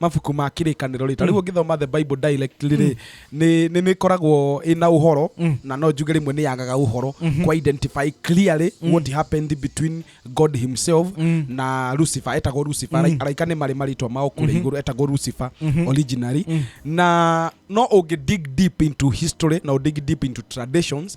mabuku ma kĩrĩkanĩro rĩ ta rĩu ũngĩthoma the bible dialect rĩ nĩ nĩ- nĩ ĩkoragwo ĩna ũhoro na no njuge rĩmwe nĩ yagaga ũhoro kũ identify clearly what happened between god himself na lucifer etagwo lucifer Arai- araika nĩ marĩ marĩtwa mao kũrĩa igũrũ etagwo lucifer originally na no ũngĩ dig deep into history na ũdig deep into traditions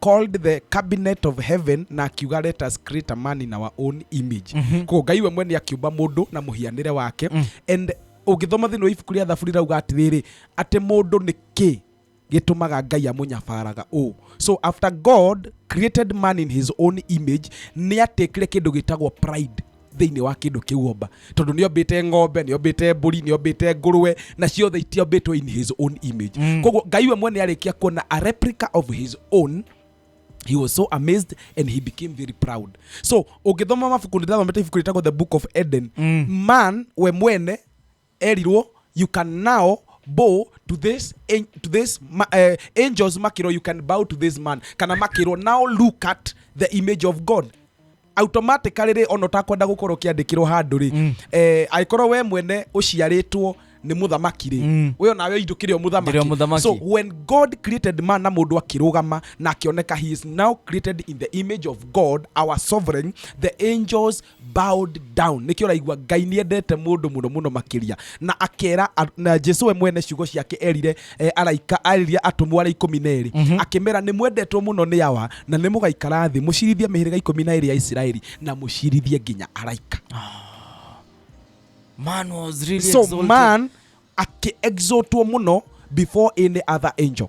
called the cabinet of heaven na akiuga let us create a man in our own image mm -hmm. koguo ngai we mwene akiumba mundu na muhianire wake mm. and ũngĩthoma thĩinĩ wa ibuku rĩa thaburi rauga atĩrĩrĩ atĩ mũndũ nĩ kĩ gĩtũmaga ngai amũnyabaraga ũũ so after god created man in his own image nĩ atĩkire kĩndũ gĩtagwo pride thĩinĩ wa kĩndũ kĩu omba tondũ nĩ ombĩte ng'ombe nĩ ombĩte mbũri nĩ ombĩte ngũrwe na ciothe itiombĩtwo in his own image mm. koguo ngai we mwene arĩkia kuona a replica of his own he was so amazed and he became very proud so ũngĩthoma mabuku nĩndathomete ibuku rĩtagwo the book of eden mm. man we mwene Erirwo, You can now bow to this, an- to this ma, eh, angels makĩrwo you can bow to this man kana makĩrwo now look at the image of god automatically rĩ ona ũtakwenda gũkorwo ũkĩandĩkĩrwo handũ rĩ mm. eh, angĩkorwo we mwene ũciarĩtwo nĩ mũthamaki rĩ mm. we onawe indũkĩrĩ o Ndĩrĩ o mũthamaki mũthamaki. so when god created man na mũndũ akĩrũgama na akĩoneka he is now created in the image of god our sovereign the angels bowed down nĩkĩo ũraigua ngai nĩ endete mũndũ mũno mũno makĩria na akera a- na jesu we mwene ciugo ciake erire eh, araika aririe atũmwo arĩa ikũmi na erĩ akĩmera nĩ mwendetwo mũno nĩ awa na nĩ mũgaikara thĩ mũcirithie mĩhĩrĩga ikũmi na erĩ ya isiraeli na mũcirithie nginya araika Man was really so exalted. man akĩexotwo mũno before any other angel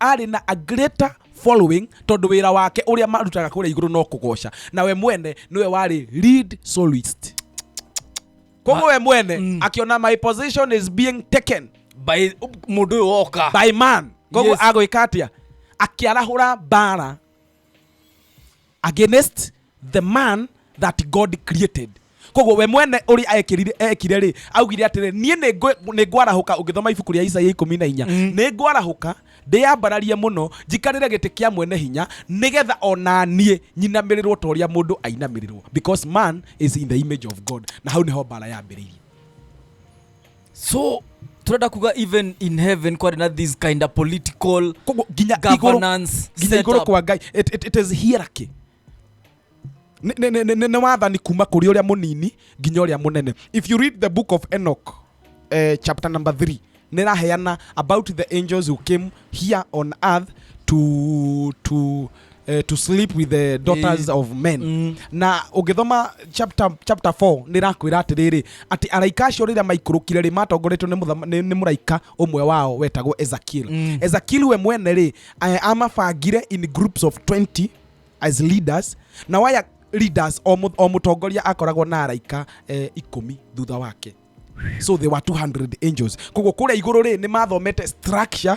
arĩ na a greater following tondũ wĩra wake ũrĩa marutaga kũrĩa igũrũ no kũgoca na we mwene nĩwe warĩ lead solist koguo we mwene mm. akiona my position is being taken by mũndũ ũyũ woka by man koguo Yes. yes. agwĩka atĩa akĩarahũra mbara against the man that god created koguo we mwene ũrĩa ekirire ekire rĩ augire atĩrĩ niĩ nĩngwe- nĩngwarahũka ũngĩthoma ibuku rĩa isaia ikũmi na inya nĩngwarahũka ndĩyambararie mũno njikarĩre gĩtĩ kĩa mwene hinya nĩgetha ona niĩ nyinamĩrĩrwo ta ũrĩa mũndũ ainamĩrĩrwo because man is in the image of god na hau nĩho mbara yambĩrĩirie so turenda kuga even in heaven kwari na this kind of political koguo nginya igũrũ governance nginya igũrũ setup. kwa ngai it, it, it is hierarchy Nĩ- nĩ- nĩ- nĩ- nĩ wathani kuma kũrĩ ũrĩa mũnini nginya ũrĩa mũnene if you read the book of enoch eh, chapter number 3 nĩ raheana about the angels who came here on earth to, to, eh, to sleep with the daughters of men mm. na ũngĩthoma chapter chapter 4 nĩ rakwĩra atĩrĩrĩ atĩ araika acio rĩrĩa maikũrũkire rĩ matongoretio nĩ mũthama- nĩ nĩ mũraika ũmwe wao wetagwo ezekiel Mm. ezekiel we mwene rĩ eh, amabangire in groups of 20 as leaders na waya leaders o mũ- o mũtongoria akoragwo na araika eh, ikũmi thutha wake so they were 200 angels koguo kũrĩa igũrũ rĩ nĩ mathomete structure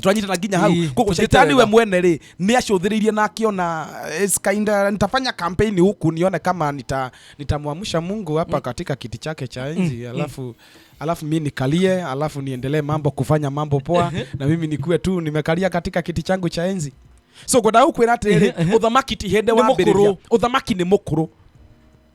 turanyitana nginya hau Ii, koguo tũthiĩte caitani we wega. mwene rĩ nĩ acũthĩrĩirie na akĩona eh, it's kinda nitafanya kampeni huku nione kama nita nitamwamsha mungu hapa katika kiti chake cha enzi alafu alafu mi nikalie alafu niendelee mambo kufanya mambo poa na mimi nikuwe tu nimekalia katika kiti changu cha enzi so ngwenda gũkwĩra atĩrĩrĩ ũthamaki ti hĩndĩ Nĩ wambĩrĩria mũkũrũ. ũthamaki nĩ mũkũrũ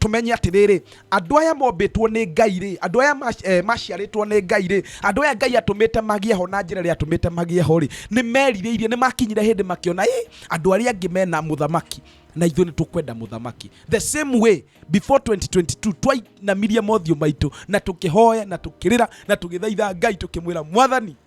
tũmenye atĩrĩrĩ andũ aya mombĩtwo nĩ ngai rĩ andũ aya mac- eh, maciarĩtwo nĩ ngai rĩ andũ aya ngai atũmĩte magĩe ho na njĩra ĩrĩa atũmĩte magĩe ho rĩ nĩ merirĩirie nĩ makinyire hĩndĩ makĩona ĩ andũ arĩa angĩ mena mũthamaki na ithuĩ nĩ tũkwenda mũthamaki the same way before 2022 twainamirie mothiũ maitũ na tũkĩhoya na tũkĩrĩra na tũgĩthaitha ngai tũkĩmwĩra mwathani